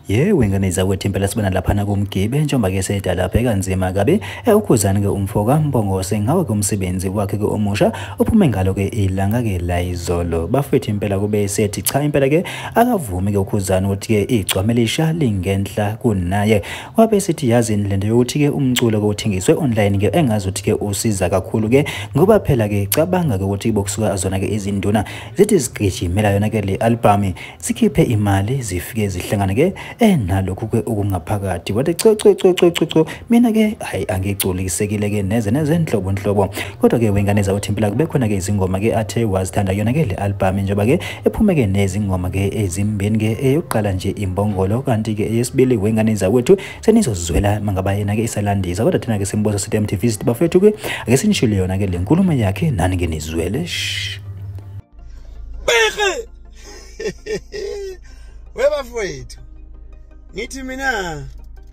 ye wengane zakwethu impela sibona laphana kumgibe njengoba ke sedala bheka nzima kabi ewukhuzani ke umfoka mbongose ngawo ke umsebenzi wakhe ke omusha uphume ngalo ke ilanga ke la izolo bafethu impela kube sethi cha impela ke akavumi ke ukhuzani ukuthi ke igcwame lisha lingenhla kunaye wabe esithi yazini lento yokuthi-ke umculo-ke uthengiswe online-ke engazi ukuthi-ke usiza kakhulu-ke ngoba phela-ke cabanga-ke ukuthi bokusuka zona-ke izinduna zithi zigijimela yona-ke le albhamu zikhiphe imali zifike zihlangane-ke enalokhu-ke okungaphakathi wathi cococococco mina-ke hhayi angigculikisekile-ke neze nezenhlobonhlobo kodwa ke wengane zawuthimpela kube khona ke izingoma ke athe wazithanda yona ke le album njengoba ke ephume ke nezingoma ke ezimbeni ke eyokuqala nje imbongolo kanti ke eyesibili wengane zawethu senizozizwela mangaba yena ke isalandisa kodwa thina ke simboza sithi MTV sithi bafethu ke ake sinishilo yona ke le nkulumo yakhe nani ke nizwele shh Beke webafowethu ngithi mina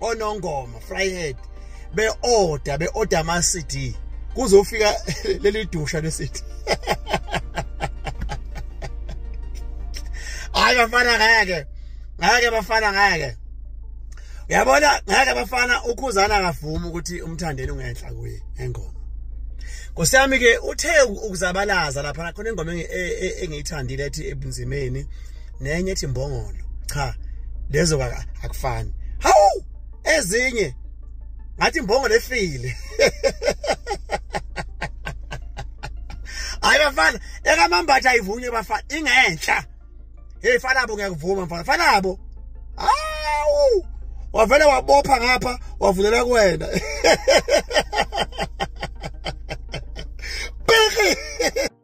onongoma fryhead be-order be-order ama-cd kuzofika leli dusha le-cd hayi bafana ngeke ngeke bafana ngeke uyabona ngeke bafana ukhuzana akavumi ukuthi umthandeni ungenhla kuye engoma Nkosi yami ke uthe ukuzabalaza lapha khona ingoma e, e, engiyithandile ethi ebunzimeni nenye ethi mbongolo cha lezo akufani hawu ezinye ngathi mbongolo efile hayi bafana ekamambatha ayivunywe bafana ingenhla hey fanabo ngiyakuvuma mfana fanabo awu wavele wabopha ngapha wavulela kuwena